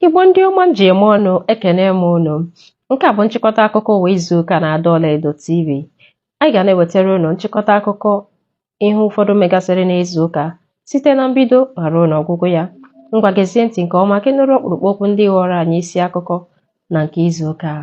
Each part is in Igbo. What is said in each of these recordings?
Igbo ndị ọma m ji eme ọnụ ekene m unu nke a bụ nchịkọta akụkọ ụwa izu ụka na Ada Ọlaedo TV anyị ga na-ewetara unu nchịkọta akụkọ ihe ụfọdụ megasịrị n'izu ụka site na mbido ma ruo n'ọgwụgwụ ya ngwa gezie ntị nke ọma ka ị nụrụ ọkpụrụkpụ okwu ndị ghọrọ anyị isi akụkọ na nke izu ụka a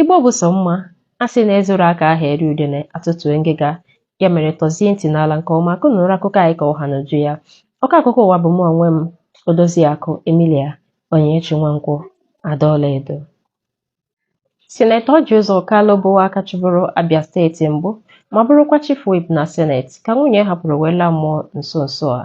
Igbo bụ sọ mma, a sị na e zuru ka a ha eri udene atụtue ngịga. Ya mere tọzie ntị n'ala nke ọma ka unu nụrụ akụkọ anyị ka ọ ha n'uju ya. Ọkọ akụkọ ụwa bụ mụ onwe m, Odoziakụ Emilia Onyinyechi Nwankwọ, Ada Ọlaedo. Sinetọ Ọjị Ụzọ Kalụ bụ aka chịburu Abia steeti mbụ ma bụrụkwa Chief Whip na Senate ka nwunye hapụrụ wee laa mmụọ nso nso a.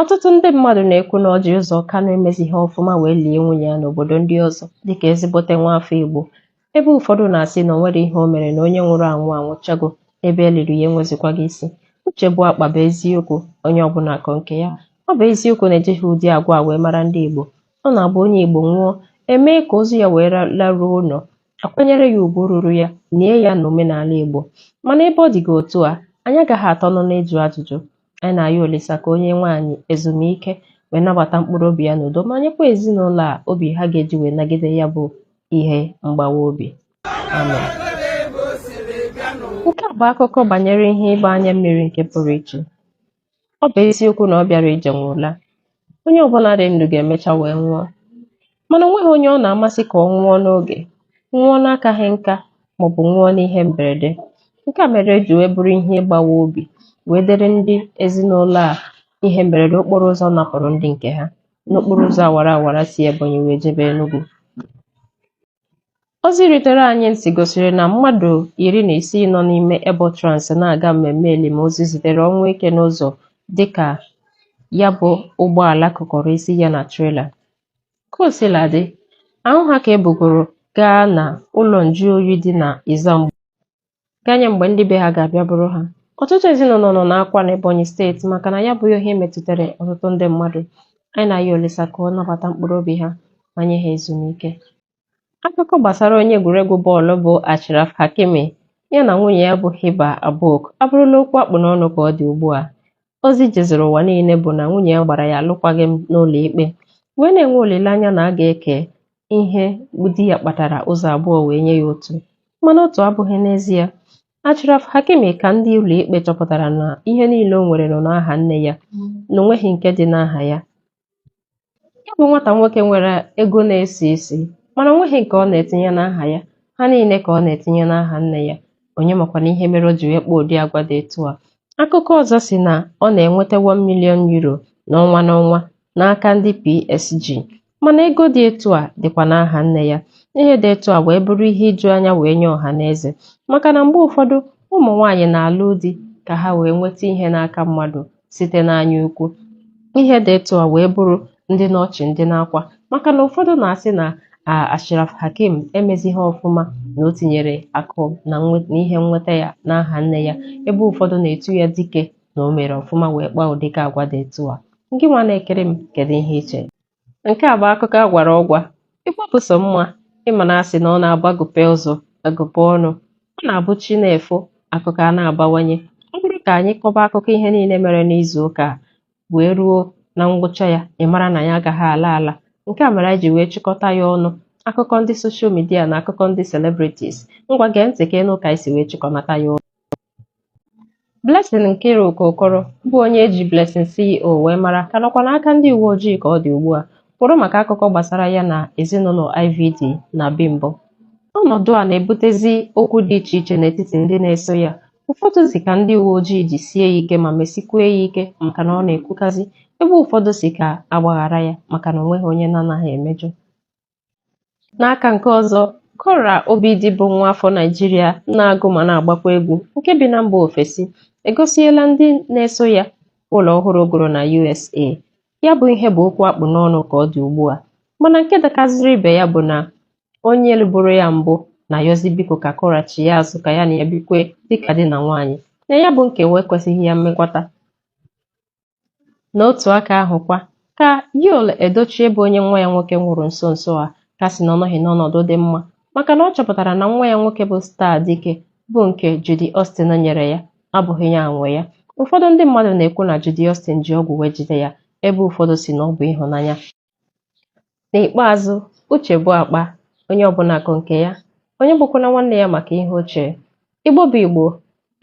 Ọtụtụ ndị mmadụ na-ekwu na Ọjị Ụzọ Kanụ emezighị ọfụma wee lie nwunye ya n'obodo ndị ọzọ dịka ezigbote nwaafọ Igbo, ebe ụfọdụ na-asị na o nwere ihe o mere na onye nwụrụ anwụ anwụchago, ebe e liri ya enwezikwaghị isi. Uche bụ akpa bụ eziokwu, onye ọbụla akọ nke ya. Ọ bụ eziokwu na ejighị ụdị agwa a wee mara ndị Igbo. Ọ na-abụ onye Igbo nwụọ, e mee ka ozu ya wee laruo ụlọ, akwanyere ya ugwu ruru ya, nie ya n'omenala Igbo. Mana ebe ọ dịgo otu a, anyị agaghị atọ ọnụ n'ịjụ ajụjụ. Anyị na-ayọ Olisa ka o nye nwaanyị ezumike wee nabata mkpụrụ obi ya n'udo ma nyekwa ezinụlọ a obi ha ga-eji wee nagide ya bụ ihe mgbawa obi amen nke a bụ akụkọ banyere ihe ịgba anya mmiri nke pụrụ iche ọ bụ eziokwu na ọ bịara ije nwe ụla Onye ọbụla dị ndụ ga-emecha wee nwụọ. Mana o nweghị onye ọ na-amasị ka ọ nwụọ n'oge, nwụọ n'akaghị nka maọbụ nwụọ n'ihe mberede. Nke a mere o ji wee bụrụ ihe ịgbawa obi wee dịrị ndị ezinụlọ a ihe mberede okporo ụzọ napụrụ ndị nke ha n'okporo ụzọ awara awara si Ebonyi wee jebe Enugu. Ozi rutere anyị ntị gosiri na mmadụ iri na isii nọ n'ime Ebotrans na-aga mmemme elimozu zutere ọnwụ ike n'ụzọ dịka ya bụ ụgbọala kụkọrọ isi ya na trela. Ka o sila dị, ahụ ha ka e bugoro gaa na ụlọ njuoyi dị na Ezzamgbo. ganye mgbe ndị be ha ga-abịa buru ha ọtụtụ ezinụlọ nọ n'akwa n'Ebonyi steeti maka na ya bụ ihe metụtara ọtụtụ ndị mmadụ anyị na-ayọ Olisa ka ọ nabata mkpụrụ obi ha ma nye ha ezumike akụkọ gbasara onye egwuregwu bọọlụ bụ Achraf Hakimi ya na nwunye ya bụ Hiba Abouk abụrụla okwu a kpụ n'ọnụ ka ọ dị ugbu a ozi jezuru ụwa niile bụ na nwunye ya gbara ya alụkwaghịm n'ụlọ ikpe wee na-enwe olileanya na a ga-eke ihe di ya kpatara ụzọ abụọ wee nye ya otu mana otu abụghị n'ezie Achraf Hakimi ka ndị ụlọikpe chọpụtara na ihe niile o nwere nọ n'aha nne ya na onweghị nke dị n'aha ya ya bụ nwata nwoke nwere ego na-esi isi mana onweghị nke ọ na-etinye n'aha ya ha niile ka ọ na-etinye n'aha nne ya onye makwana ihe mere o ji wee kpaa ụdị agwa dị etu a akụkọ ọzọ si na ọ na-enweta 1 million euro n'ọnwa n'ọnwa n'aka ndị PSG Mana ego dị etu a dịkwa n'aha nne ya. Ihe dị etu a wee bụrụ ihe iju anya wee nye ọha na eze maka na mgbe ụfọdụ ụmụ nwaanyị na-alụ di ka ha wee nweta ihe n'aka mmadụ site n'anya ukwu. Ihe dị etu a wee bụrụ ndị n'ọchị ndị n'akwa maka na ụfọdụ na-asị na Achraf Hakimi emezighị ọfụma na o tinyere akụ na ihe nnweta ya n'aha nne ya ebe ụfọdụ na-etu ya dike na o mere ọfụma wee kpaa ụdịka agwa dị etu a gị nwa na-egere m kedu ihe i che nke a bụ akụkọ a gwara ọgwa Igbo bụ sọ mma ị ma na a sị na ọ na-abụ agụpe ụzọ agụpe ọnụ ọ na-abụ chi na-efo akụkọ a na-abawanye ọ bụrụ ka anyị kọba akụkọ ihe niile mere n'izu ụka a wee ruo na ngwụcha ya ị mara na ya agaghị ala ala nke a mere anyị ji wee chịkọta ya ọnụ akụkọ ndị soshal midia na akụkọ ndị celebrities ngwa gee ntị ka ị nụ ka anyị si wee chịkọnata ya ọnụ Blessing Nkiruka Okoro bụ onye e ji Blessing CEO wee mara ka nọkwa n'aka ndị uwe ojii ka ọ dị ugbu a kwụrụ maka akụkọ gbasara ya na ezinụlọ IVD na Bimbo. Ọnọdụ a na-ebutezi okwu dị iche iche n'etiti ndị na-eso ya. Ụfọdụ si ka ndị uwe ojii jisie ya ike ma mesikwue ya ike maka na ọ na-ekwukazi, ebe ụfọdụ si ka a gbaghara ya maka na onweghị onye na-anaghị emejọ. N'aka nke ọzọ, Kora Obidi bụ nwa afọ Naịjirịa na-agụ ma na-agbakwa egwu nke bi na mba ofesi egosiela ndị na-eso ya ụlọ ọhụrụ o goro na USA. Ya bụ ihe bụ okwu a kpụ n'ọnụ ka ọ dị ugbu a mana nke dakaziri ibe ya bụ na onye lụburu ya mbụ na-ayọzi biko ka Kora chie azụ ka ya na ya bikwe dịka di na nwaanyị na ya bụ nkewa ekwesịghị ya mmekwata N'otu aka ahụ kwa, ka Yul Edochie bụ onye nwa ya nwoke nwụrụ nso nso a ka sị na ọ nọghị n'ọnọdụ dị mma maka na ọ chọpụtara na nwa ya nwoke bụ Star Dike bụ nke Judy Austin nyere ya abụghị ya nwe ya. Ụfọdụ ndị mmadụ na-ekwu na Judy Austin ji ọgwụ wee jide ya ebe ụfọdụ si na ọ bụ ịhụnanya. N'ikpeazụ, uche bụ akpa, onye ọbụla ko nke ya, onye egbukwana nwanne ya maka ihe o che. Igbo bụ Igbo,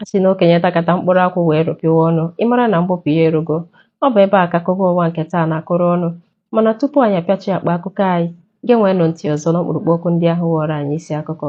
a sị na okenye takata mkpụrụ akwụ wee rụpịwa ọnụ, ị mara na mgbụpụ ya erugo. Ọ bụ ebe a ka akụkọ ụwa nke taa na-akụrụ ọnụ, mana tupu anyị apịachi akpa akụkọ anyị, geenweenụ ntị ọzọ n'ọkpụrụkpụ okwu ndị ahụ ghọọrọ anyị isi akụkọ.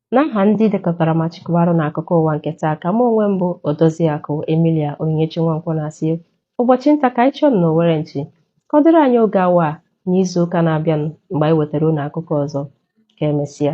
N'aha ndị dekọtara ma chịkọbara unu akụkọ ụwa nke taa ka mụ onwe m bụ Odoziakụ Emilia Onyinyechi Nwankwọ na-asị ụbọchị nta ka anyị chụọ n'owere nchi ka ọ dịrị anyị oge awa a n'izu ụka na-abịanụ mgbe anyị wetara unu akụkọ ọzọ ka emesịa